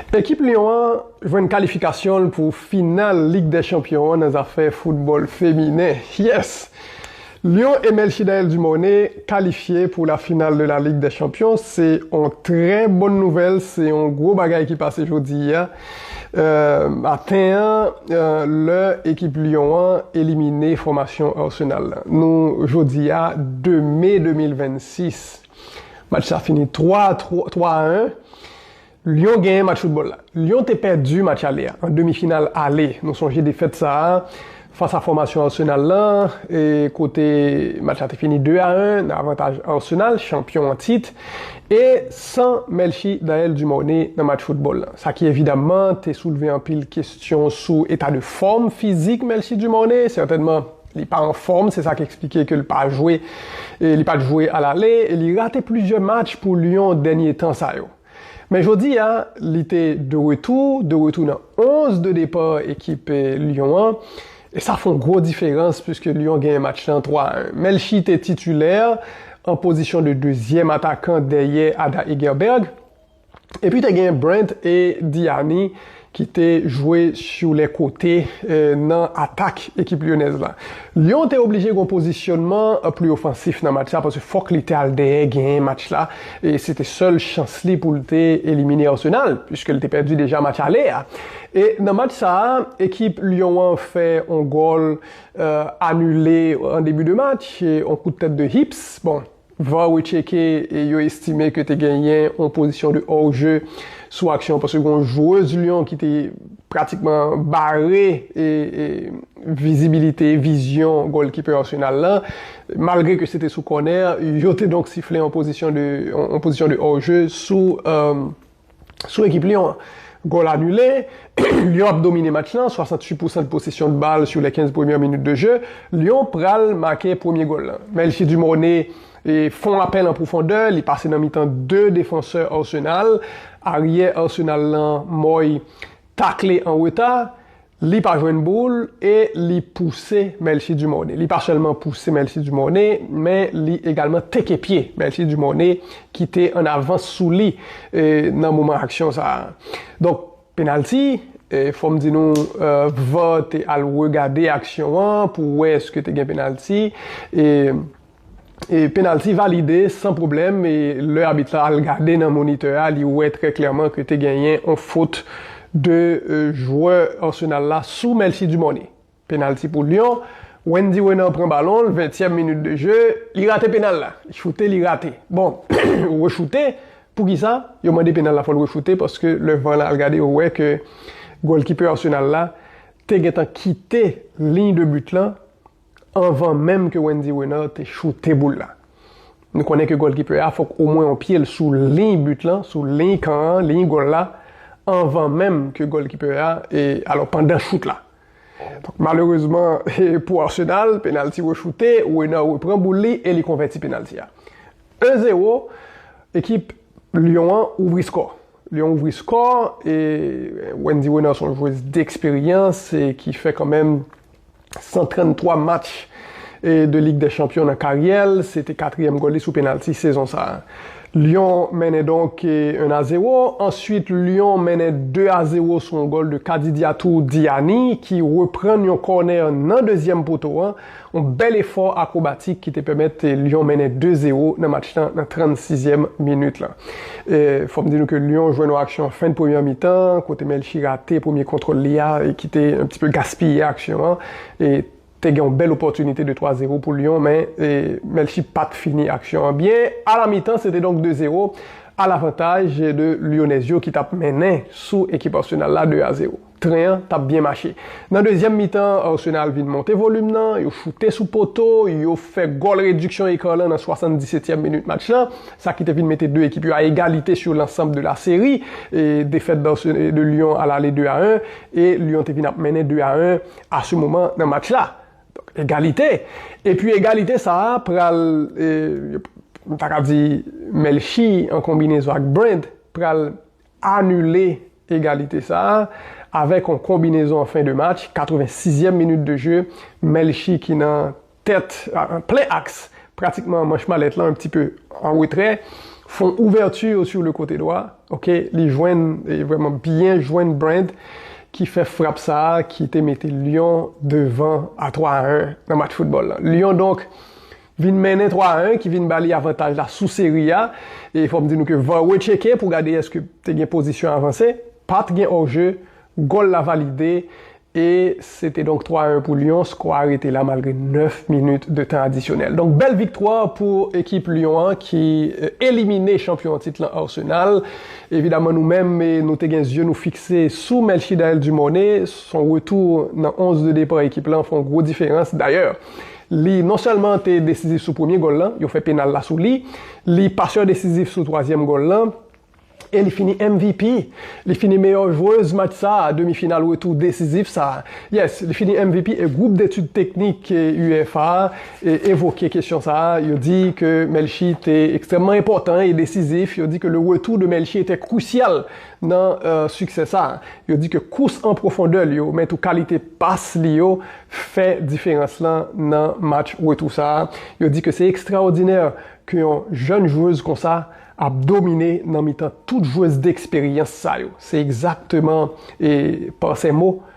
Ekip Lyon an jwenn kalifikasyon l pou final Lig dè Chanpyon an nan zafè foutbòl feminen. Yes! Lyon e Melchidaël Dumornay kalifye pou la final de la Ligue des Champions. Se yon trè bòn nouvèl, se yon gwo bagay ki pase jodi a maten an lè ekip Lyon an elimine fòmasyon Arsenal lan. Nou jodi a 2 me 2026. Match sa fini 3 a 3 a 1. Lyon genyen match foutbòl la. Lyon te pèdi match ale a, an demi final ale. Nou sonje defèt sa a fas a fòmasyon Arsenal lan e kote match la te fini 2 a 1 nan avantaj Arsenal, chanpyon an tit. E san Melchie Daelle Dumornay nan match foutbòl lan. Sa ki evidamman te soulve anpil kestyon sou eta de fòm fizik Melchie Dumornay. Sètènman. Li pa anfòm, se sa k eksplike ke l pa jwe, li pa t jwe alale e li rate plizyè match pou Lyon dènye tan sa yo. Men jodi a, li te de retou, de retou nan 11 de depa ekip Lyon an e sa fon gwo diferans puiske Lyon genyen match lan 3 a 1. Melchie te titulè an pozisyon de dezyèm atakan dèyè Ada Hegerberg. Epi te gen Brent e Diani ki te jwe sou lè kote nan atak ekip Lyonèz la. Lyon te oblije gen yon pozisyonman pli ofansif nan match la paske fòk li te al dèyè genyen match la e se te sèl chans li pou l te elimine Arsenal puiske l te pèdi deja match ale a. E nan match sa a ekip Lyon an fè yon gòl anile an debi de match, yon kout tèt de Hips. Bon. Var retcheke e yo estime ke te genyen yon pozisyon de hors jeu sou aksyon an paske gen yon jwez Lyon ki te pratikman bare vizibilite, vizyon gòlkipè Arsenal la malgre ke se te sou kònè, yo te donk sifle yon pozisyon de hors jeu sou. sou ekip Lyon an. Gòl anile, Lyon ap domine match lan, 68 pousan de posesyon de bal sou lè 15 premyè minit de je, Lyon pral make premye gòl lan. Melchie Dumornay fon apèl an pwofondè, li pase nan mitan 2 defansè Arsenal, aryè Arsenal lan Moy, takle an reta, li pa jwenn boul e li pouse Melchie Dumornay. Li pa sèlman pouse Melchie Dumornay, men li egalman teke pye Melchie Dumornay ki te an avans sou li nan moman aksyon sa a. Donk, penalti, fò m di nou var te al regade aksyon an pou wè eske te gen penalti e. Penalty valide san pwoblèm lè abit la al gade nan monitè a li wè trè klèman ke te genyen yon fot de jwè Arsenal la sou Melchie Dumornay. Penalty pou Lyon, Wendy Renard pran balon l, ventyèm minit de je, li rate penal la, li choute li rate. Bon, ou rechoute, poukisa yo mande penal la fò l rechoute paske lè var la al gade yo wè ke gòlkipè Arsenal la te gentan kite liy de but lan Anvan menm ke Wendy Renard te choute boul la. Nou konnen ke gòlkipè a fòk omwen yon pye l sou liy but lan, sou liy kan an, liy gòl la, anvan menm ke gòlkipè a, e alò pandan chout la. Donk malerezman pou Arsenal, penalti rechoute, Renard repran boul li e li konvèti penalti a. 1 zero, ekip Lyon an ouvri skò. Lyon ouvri skò e Wendy Renard son jwez deksperyans e ki fè kanmenm 133 match de Lig dè Chanpyon nan karyè l, se te katriyèm gòl li sou penalti sezon sa a. Lyon mennen donk 1 a 0, answit Lyon mennen 2 a 0 sou yon gòl de Kadidiatou Diani ki reprann yon kònè nan dezyèm poto an, yon bèl efò akwobatik ki te pèmèt Lyon mennen 2 0 nan match lan nan 36 zyèm minit la. E fò m di nou ke Lyon jwe yon aksyon an fen de premyè mitan an kote Melchi rate premye kontwòl li a e ki te yon ti pe gaspiye aksyon an. E te gen yon bèl opòtinite de 3 zero pou Lyon men Melchi pa t fini aksyon an byen. A la mitan se te donk 2 zero a lavantaj de Lyonèz yo ki t ap mennen sou ekip Arsenal la 2 a zero. Tren an t ap byen mache. Nan dezyèm mitan an, Arsenal vin monte volim nan, yo choute sou poto, yo fè gòl rediksyon eka lan nan 77 tyèm minit match lan, sa ki te vin mete 2 ekip yo a egalite sur l'ensemble de la série. Defèt de Lyon a l'ale 2 a 1 e Lyon te vin ap mennen 2 a 1 a se moman nan match la. Donk egalite. Epi egalite sa a pral, m ta ka di Melchie an konbinezon ak Brent pral anile egalite sa a avèk yon konbinezon an fen de match, 86 yèm minit de je, Melchie ki nan tèt, an plen aks, pratikman manch malèt lan, yon pti pe an retrè, fè yon ouvèti sou le kote dwa, ok, li jwenn, li vrèman byen jwenn Brand ki fè frap sa a ki te mete Lyon devan a 3 a 1 nan match foutbòl lan. Lyon donk vin mennen 3 a 1 ki vin ba li avantaj la sou seri a e fòm di nou ke var retcheke pou gade eske te gen pozisyon avanse, pat gen hors jeu, gòl la valide e se te donk 3 a 1 pou Lyon, skò a rete la malgre 9 minit de tan adisyonèl. Donk bèl viktwa pou ekip Lyon an ki elimine chanpyon an tit lan Arsenal. Evidaman nou menm nou te gen zye nou fikse sou Melchidaël Dumornay, son retou nan 11 de depa ekip lan fè yon gwo diferans, dayè Li non sèlman te desizif sou premye gòl lan, yo fè penal la sou li, li pasè desizif sou twazyèm gòl lan, e li fini MVP. Li fini meyò jwez match sa, demi final retou desizif sa. Yes, li fini MVP e gwoup detid teknik UEFA evoke kesyon sa, yo di ke Melchie te ekstrèmman enpòtan e desizif, yo di ke le retour de Melchie était crucial Nan siksè sa, yo di ke kous an pwofondè li yo, men tou kalite pas li yo fè diferans lan nan match retou sa. Yo di ke se ekstraòdinè ke yon jèn jwez konsa ap domine nan mitan tout jwez deksperyans sa yo. Se egzakteman Parsemo